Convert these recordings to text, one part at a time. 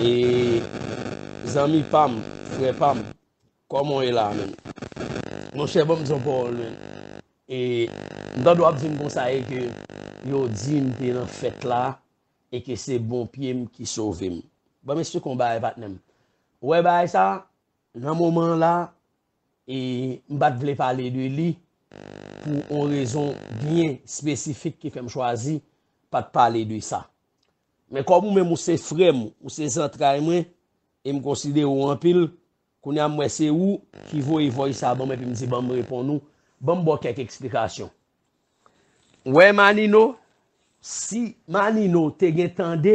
E zanmi pam, frè pam, kòman w ye la a menm? Monchè ban m di yon pawòl menm. E m tande w ap di m konsa e ke yo di m te nan fèt la e ke se bon pye m ki sove m. Ban m esplike w yon bagay patnè m. Ou wè bagay sa a, nan moman an la a, E m pa t vle pale de li pou on rezon byen espesifik ki fè m chwazi pa t pale de sa. Men kòm ou menm ou se frè m, ou se zantray mwen e m konsidere w anpil, kounye a m wè se ou ki voye voice sa ban m epi m di ban m reponn ou, ban m ba w kèk eksplikasyon. Wè Manino, si Manino te gen tande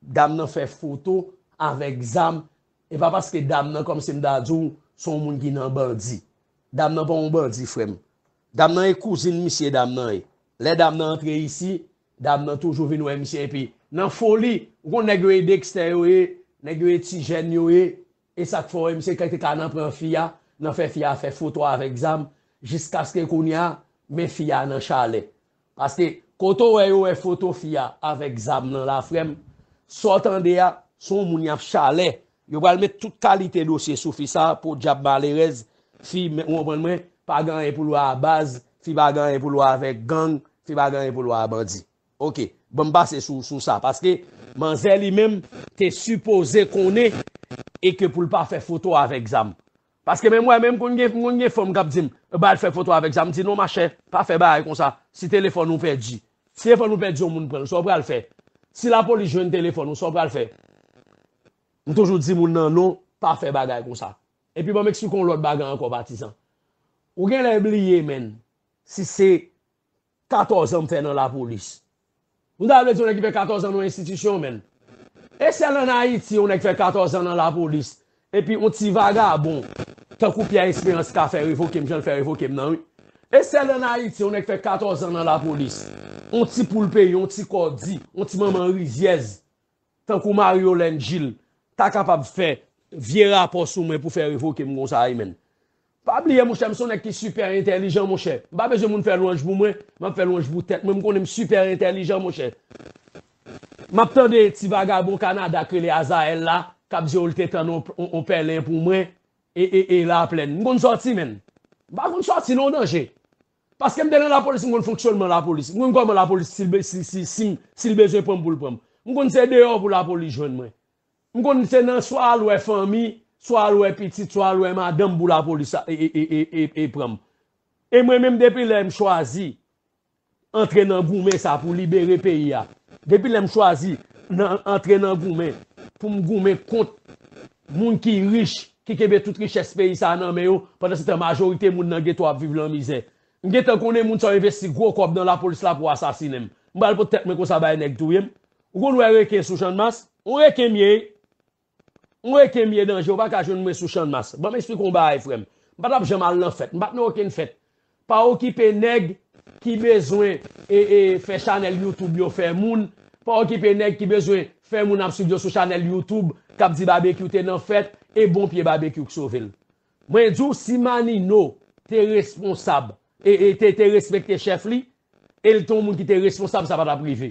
Dam nan fè foto avèk zam e pa paske dam nan kòmsi m ta di w se yon moun ki nan bandi. Dam nan pa yon bandi frè m. Dam nan e kouzin misye dam nan ye. Lè dam nan antre isi, dam nan toujou vin wè misye epi nan foli, ou konn nèg yo e dekstè yo ye, nèg yo e tijèn yo ye, Esak fò MZ te ka nan pran fi a nan fè fi a fè foto avèk zam jiskaske kounya men fi a nan chalè paske kote ou wè yo wè foto fi a avèk zam nan la frèm sa w tande a son moun yap chalè yo pral met tout kalite dosye sou fi sa podyab malerèz fi ou konprann mwen pa gen anyen pou l wè a baz fi pa gen anyen pou l wè avèk gang fi pa gen anyen pou l wè a bandi. Ok banm pase sou sou sa paske manzè li menm te sipoze konnen e ke poul pa fè foto avèk zam paske menm mwen menm m konn gen m konn gen fanm kap dim e bay al fè foto avèk zam m di non machè pa fè bagay konsa si telefòn ou pèdi si telefòn ou pèdi yon moun pranl sa w pral fè si lapolis jwenn telefòn ou sa w pral fè m toujou di moun nan non pa fè bagay konsa epi banm eksplike w lòt bagay ankò patizan ou genlè bliye menn si se 14 ans m fè nan la police. Nou ta vle di yon nèg ki fè 14 ans nan yon institution menn. E sèl an Ayiti yon nèg fè 14 ans nan la police epi yon ti vagabon tankou Pierre Esperance ka fè revoke m jan l fè revoke m nan wi. E sèl an Ayiti yon nèg fè 14 ans nan la police. Yon ti poul peyi, yon ti kò di, yon ti manman rizyèz Tankou Marie Yolène Gilles ta kapab fè vye rapò sou mwen pou fè revoke m konsa wi menn. Pa bliye monchè m son nèg ki sipè entèlijan monchè. M pa bezwen moun fè lwanj pou mwen, m ap fè lwanj pou tèt mwen, m konnen m sipè entèlijan monchè. M ap tande ti vagabon Kanada k rele Azael la k ap di w l te tann on pèlen pou mwen e e e laplèn. M konn sòti menn. M pa konn sòti non danje. Paske m te nan lapolis m konn fonksyònman lapolis. M konn kòman lapolis si l bezwen pran m pou l pran m. M konn se deyò pou lapolis jwenn mwen. M konn se nan swa al wè fanmi, swa al wè pitit, swa al wè madanm pou lapolis pran m. E mwen menm depi lè m chwazi antre nan goumen sa pou libere peyi a, depi lè m chwazi antre nan goumen pou m goumen kont moun ki rich, ki kenbe tout richès peyi sa a nan men yo, pandansetan majorite moun nan geto ap viv lan mizè. M gentan konnen moun sa yo envesti gwo kòb nan lapolis la pou asasinen m. M pral pot tèt mwen konsa bay nèg touye m. Ou konn wè reken sou Channmas? On reken m ye! On reken m ye danje ou pa ka jwenn mwen sou Channmas. Ban m esplike w on bagay frè m. M pa t ap janm al lan fèt. M pa t nan okenn fèt. Pa okipe neg ki bezwen fè chanel YouTube yo fè moun, pa okipe neg ki bezwen fè moun ap swiv yo sou chanel YouTube kap di Babekyou te nan fèt e bon pye Babekyou k sovel. Mwen di w si Manino te responsab, te respekte chef li, el te yon moun ki te responsab sa pa tap rive.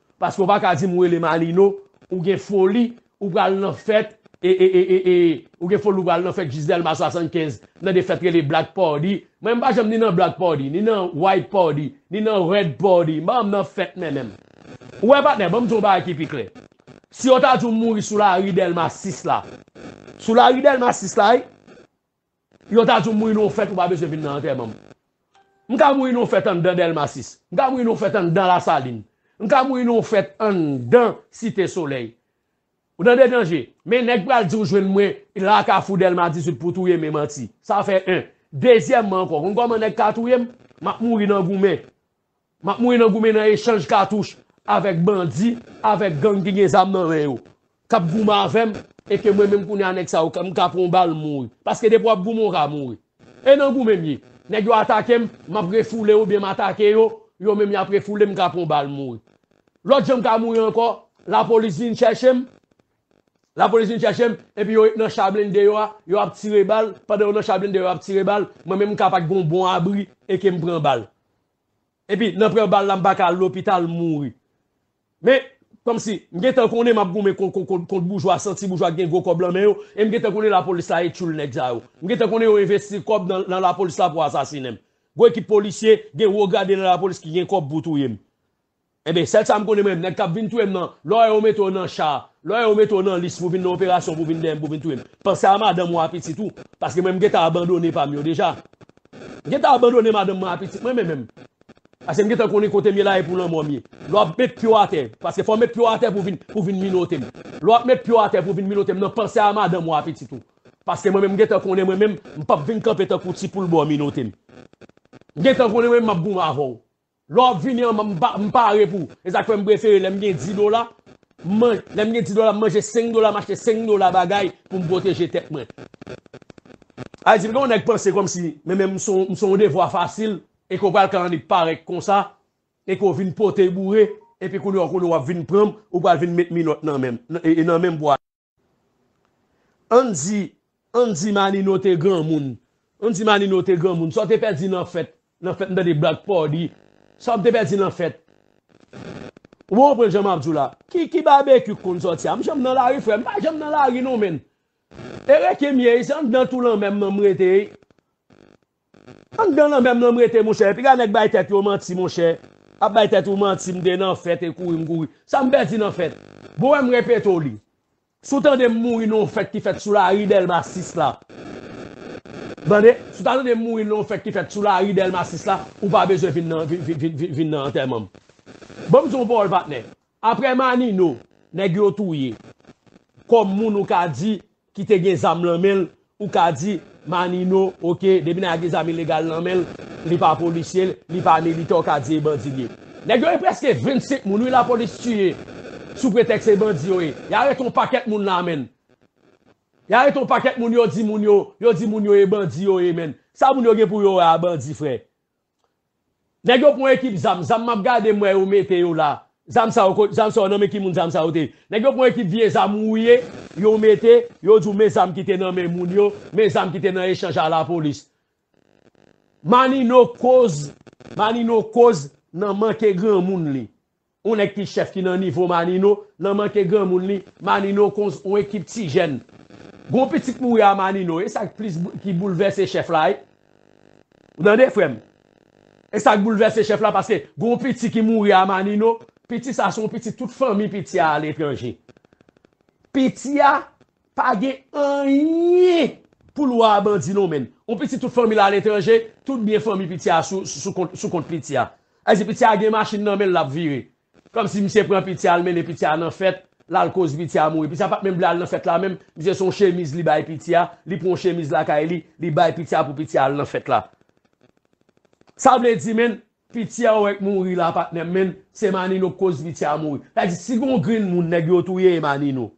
Paske ou pa ka dim ou rele Malino ou gen foli ou pral nan fèt ee ou gen foli ou pral nan fèt Gisdelma 75 nan de fèt rele black party mwen m pa janm ni nan black party ni nan white party ni nan red party m pa janm nan fèt men menm ou wè patnè banm di w yon bagay ki pi klè si yo ta di w mouri sou lari Delma 6 la sou lari Delma 6 la wi. Yo ta di w mouri nan yon fèt ou pa bezwen vin nan antèman m. M ka mouri nan yon fèt anndan Dèlma 6. M ka mouri nan yon fèt anndan Lasalin. M ka mouri nan yon fèt anndan Site Solèy. Ou tande danje? Men nèg pral di w jwenn mwen la kafou Dèlma 18 pou touye m e manti. Sa fè 1. Dezyèmman ankò, ou konn kòman nèg ka touye m? M ap mouri nan goumen. Map mouri nan goumen nan echanj katouch avèk bandi avèk gang ki gen zam nan men yo kap goumen avèm e ke mwen menm kounye a nèg sa yo mka pran yon bal m mouri paske depi wap goumen ou ka mouri e nan goumen m ye nèg yo atakem map refoule yo oubyen m atake yo yo menm yap refoulem mka pran yon bal m mouri lòt jan mka mouri ankò lapolis vin chèchem lapolis vin chèchem epi yo nan cha blende yo a yo ap tire bal pandan yo nan cha blende yo a yo ap tire bal mwen menm mka pat gen yon bon abri e ke mpran bal. Epi nan pran bal la m pa ka al lopital m mouri. Men, kòmsi, m gentan konnen m ap goumen kont boujwa, santi boujwa ki gen gwo kòb lan men yo, e m gentan konnen lapolis la e tchoul nèg sa yo. M gentan konnen yo envesti kòb nan lapolis la pou asasinen m. Gwo ekip polisye, gen wo grade nan lapolis ki gen kòb pou touye m. Enben, sèl sa m konnen mwen, nèg k ap vin touye m nan, lò yo mete w nan cha, lò yo mete w nan lis pou w vin nan operasyon pou w vin dèyè m pou w vin touye m, panse a madanm ou a pitit ou, paske mwen m gentan abandone pa m yo deja. M gentan abandone madanm mwen a pitit mwen mwen menm, paske m gentan konnen kote m ye la e pou lanmò m ye. Lò w ap met pye w atè, paske fò w met pye w atè pou w vin, pou w vin minote m. Lò w ap met pye w atè pou w vin minote m nan, panse a madanm ou a pitit ou, paske mwen menm m gentan konnen mwen menm, m p ap vin kanpe tankou ti poul ba w minote m. M gentan konnen mwen menm m ap goumen avè w. Lè wap vini anm an m pare pou, e sak fèm prefere lèm gen 10 dola, lèm gen 10 dola m manje 5 dola m achte 5 dola bagay poum pwoteje tèt mwen. Ayiti m gen yon nèg panse kòmsi menmenm m son yon devwa fasil e ke w pral kalannik parèk konsa e ke w vin pote boure epi kounye w konnen wap vin pranm ou pral vin met minòt nan menm e nan menm pou al Ann di, ann di Manino te granmoun. Ann di Manino te granmoun. Sa w te pèdi nan fèt, nan fèt m tande blag pa w di. Sa w te pèdi nan fèt. Ou pa konprann sa m ap di w la. Ki, ki Babekyou k konn sòti a? M janm nan lari frè m. M pa janm nan lari non menn. E reken m ye, se anndan tou lanmè m nan m rete. Anndan lanmè m nan m rete monchè Piga nèg bay tèt yo manti monchè Ap bay tèt ou manti M te nan fèt e kouri m kouri Sa m pèdi nan fèt Bon wè m repete w li Si w tande m mouri nan yon fèt ki fèt sou lari Dèlma 6 la Tande Si w ta tande m mouri nan yon fèt ki fèt sou lari Dèlma 6 la Ou pa bezwen vin nan antèman m Bon m di w yon pawòl patnè Aprè Manino nèg yo touye kòm moun ou ka di ki te gen zam lan menl ou ka di Manino ok depi nèg la gen zam ilegal lan menl li pa polisye li pa militan ou ka di e bandi li ye. Nèg yo e prèske 25 moun wi lapolis tiye sou pretèks se bandi yo ye y arete yon pakèt moun la menn y arete yon pakèt moun yo di moun yo yo di moun yo e bandi yo ye menn sa moun yo gen pou yo wè a bandi frè Nèg yo pran ekip zam, zam map gade m wè yo mete yo la, zam sa yo kot, zam sa yo nan men ki moun zam sa yo te ye, nèg yo pran ekip vye zam wouye yo mete, yo di w men zam ki te nan men moun yo, men zam ki te nan echanj a lapolis. Manino koz, Manino koz nan manke granmoun li. On nèg ki chèf ki nan nivo Manino nan manke granmoun li, Manino konz on ekip ti jèn. Gon pitit mouri a Manino, e sak plis ki boulvèse chèf la wi. Ou tande frè m? E sak boulvèse chèf la paske gon piti ki mouri a Manino, piti sa son piti tout fanmi piti a aletranje. Piti a pa gen anyen pou l wè a bandi non men l. On piti tout fanmi l aletranje, tout byen fanmi piti a sou kont piti a. Ay si pitia gen machin nan menl lap vire kòmsi misye pran pitia al mennen pitia nan fèt lal koz pitia mouri pitia pat menm vle al nan fèt la menm misye son chemiz li bay pitia li pran yon chemiz lakay li li bay pitia pou pitia al nan fèt la sa vle di menn pitia ou wè k mouri la patnèm menn se manino k koz pitia mouri sa vle di si gon grenn moun nèg yo touye e manino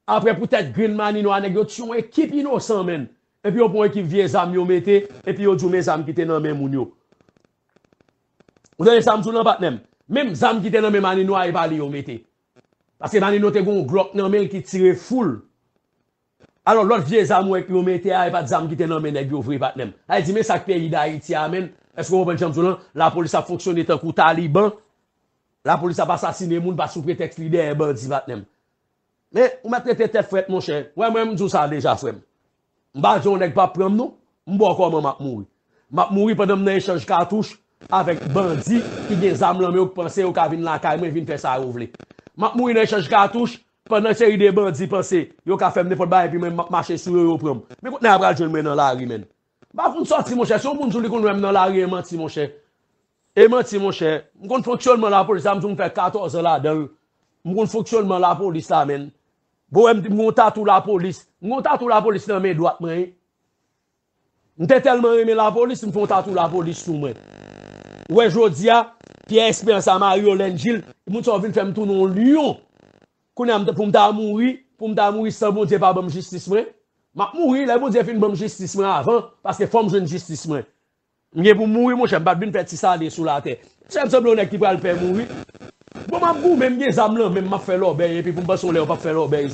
aprè pou tèt grenn manino a nèg yo tiye yon ekip inosan menn epi yo pran yon ekip vye zam yo mete epi yo diw men zam kite nan men moun yo. Ou tande sam diw lan patnèm? Menm zam ki te nan men Manino a e pa li yo mete. Paske Manino te gen yon Glock nan menl ki tire foul. Alò lòt vye zam ou wè yo mete a e pat zam ki te nan men nèg yo vre patnèm. Sa vle di men sak peyi Dayiti a menn, èske ou konprann sam diw lan? Lapolis ap fonksyone tankou taliban, lapolis ap asasine moun pa sou pretèks li dèyè bandi patnèm. Men ou mèt rete tèt frèt monchè. Wè mwen mdiw sa deja frèm. M pa di yon nèg pa pranm non, m bò kòman m ap mouri. M ap mouri pandan m nan echanj katouch avèk bandi ki gen zam lan men yo k panse yo ka vin lakay mwen vin fè sa yo vle. M ap mouri nan echanj katouch pandan seri de bandi panse yo ka fè m nenpòt bagay epi mwen m ap mache sou yo yo pran m. Men kot nèg la pral jwenn mwen nan lari menn. M pa konn sòti monchè, si yon moun di w li konn wè m nan lari e manti monchè. E manti monchè. M konn fonksyònman lapolis la, m di w m fè 14 an ladan l. M konn fonksyònman lapolis la menn. Bohem di m gon tatou lapolis. M gon tatou lapolis nan men dwat mwen wi. M te tèlman renmen lapolis m fon tatou lapolis sou mwen. Ou wè jodi a, Pierre Espérance a Mariolène Gilles, moun sa yo vin fè m tounen yon lyon. Kounye a pou m ta mouri, pou m ta mouri san Bondye pa ban m jistis mwen. M ap mouri, lè Bondye fin ban m jistis mwen avan, paske fò m jwenn jistis mwen. M gen pou m mouri monchè m pat vin fè ti sade sou latè Monchè m sanble yon nèg ki pral pè mouri Bon m ap goumen m gen zam lan menm m ap fè lòbèy epi pou m panse yon lè yo p ap fè lòbèy